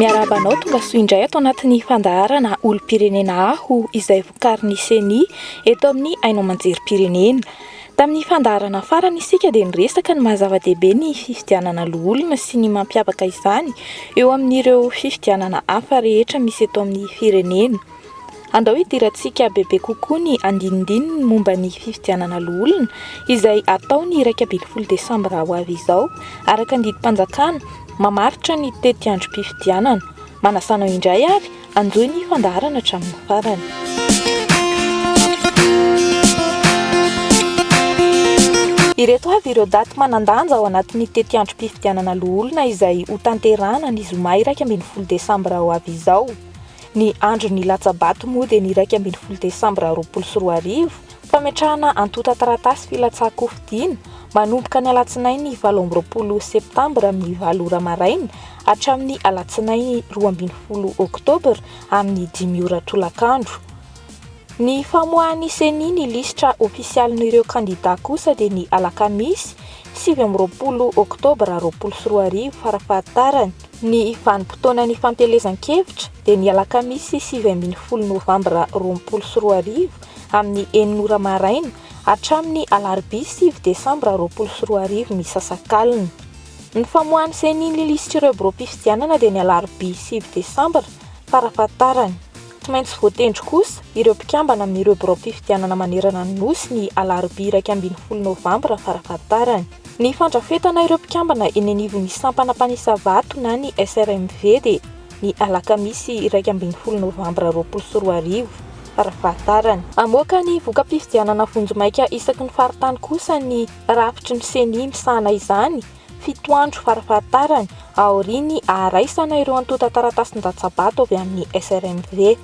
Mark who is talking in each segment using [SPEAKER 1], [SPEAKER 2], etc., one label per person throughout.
[SPEAKER 1] Miarahaba anao tonga soa indray ato anatin'ny fandaharana olom-pirenena aho izay vokarin'ny CENI eto amin'ny haino aman-jerim-pirenena. Tamin'ny fandaharana farany isika dia niresaka ny maha-zava-dehibe ny fifidianana loholona sy ny mampiavaka izany eo amin'ireo fifidianana hafa rehetra misy eto amin'ny firenena. Andao hidirantsika bebe kokoa ny andinindininy momba ny fifidianana loholona izay hatao ny iraika ambin'ny folo desambra ho avy izao. Araka ny didim-panjakana, mamaritra ny tetiandrom-pifidianana. Manasa anao indray ary hanjohy ny fandaharana hatramin'ny farany. Ireto avy ireo daty manan-danja ao anatin'ny tetiandrom-pifidianana loholona izay hotanterahana ny zoma iraika ambin'ny folo desambra ho avy izao. Ny andron'ny latsa-bato moa dia ny iraika ambin'ny folo desambra roapolo sy roa arivo, fametrahana antontan-taratasy filatsahan-kofidina, manomboka ny alatsinainy valo amby roapolo septambra amin'ny valo ora maraina hatramin'ny alatsinainy roa ambin'ny folo oktobra amin'ny dimy ora tolakandro. Ny famoahan'ny ceni ny lisitra ofisialin'ireo kandidà kosa dia ny alakamisy sivy amby roapolo oktobra roapolo sy roa arivo farafahatarany. Ny vanim-potoana nifantelezan-kevitra dia ny alakamisy sivy ambin'ny folo novambra roapolo sy roa arivo amin'ny enina ora maraina hatramin'ny alarobia sivy desambra roapolo sy roa arivo misasakalina. Ny famoahan'ny ceni ny lisitr'ireo biraom-pifidianana dia ny alarobia sivy desambra farafahatarany. Tsy maintsy voatendry kosa ireo mpikambana amin'ireo biraom-pifidianana manerana ny Nosy ny alarobia iraika ambin'ny folo novambra farafahatarany. Ny fandrafetana ireo mpikambana eny anivon'ny sampana mpanisa vato na ny SRMV dia ny alakamisy iraika ambin'ny folo novambra roapolo sy roa arivo, raha fahatarany. Hamoaka ny voka-pifidianana vonjimaika isaky ny faritany kosa ny rafitry ny Ceni misahana izany, fito andro fara fahatarany, aorian'ny haharaisana ireo antontan-taratasin-datsabato avy amin'ny SRMV.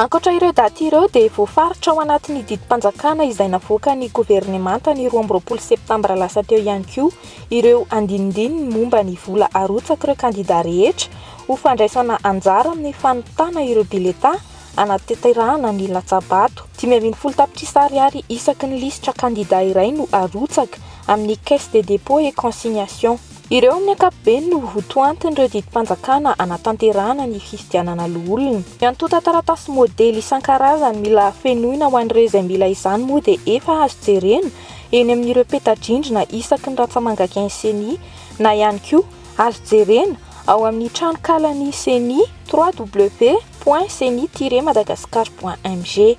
[SPEAKER 1] Ankoatra ireo daty ireo dia voafaritra ao anatin'ny didim-panjakana izay navoakan'ny governemanta ny roa amby roapolo septambra lasa teo ihany koa ireo andinindininy momba ny vola arotsak'ireo kandida rehetra ho fandraisana anjara amin'ny fanontana ireo biletà hanatanterahana ny latsabato. Dimy ambin'ny folo tapitrisa ariary isaky ny lisitra kandida iray no arotsaka amin'ny Caisse des Dépôts et Consignations. Ireo amin'ny ankapobeny no ho tohantin'ireo didim-panjakana hanatanterahana ny fifidianana loholona. Ny antontan-taratasy modely isan-karazany mila fenoina ho an'ireo izay mila izany moa dia efa azo jerena eny amin'ireo peta-drindrina isaky ny ratsamangaken'ny Ceni na ihany koa azo jerena ao amin'ny tranonkalan'ny Ceni, www.ceni-madagascar.mg.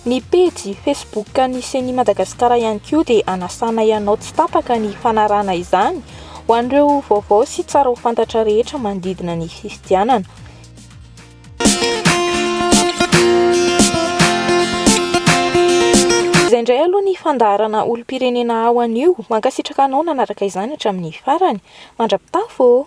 [SPEAKER 1] Ny pejy Facebook an'ny Ceni Madagascar ihany koa dia anasanay anao tsy tapaka ny fanarahana izany ho an'ireo vaovao sy tsara ho fantatra rehetra manodidina ny fifidianana. Izay indray aloha ny fandaharana olom-pirenena ao anio. Mankasitraka anao nanaraka izany hatramin'ny farany. Mandra-pitafo ô!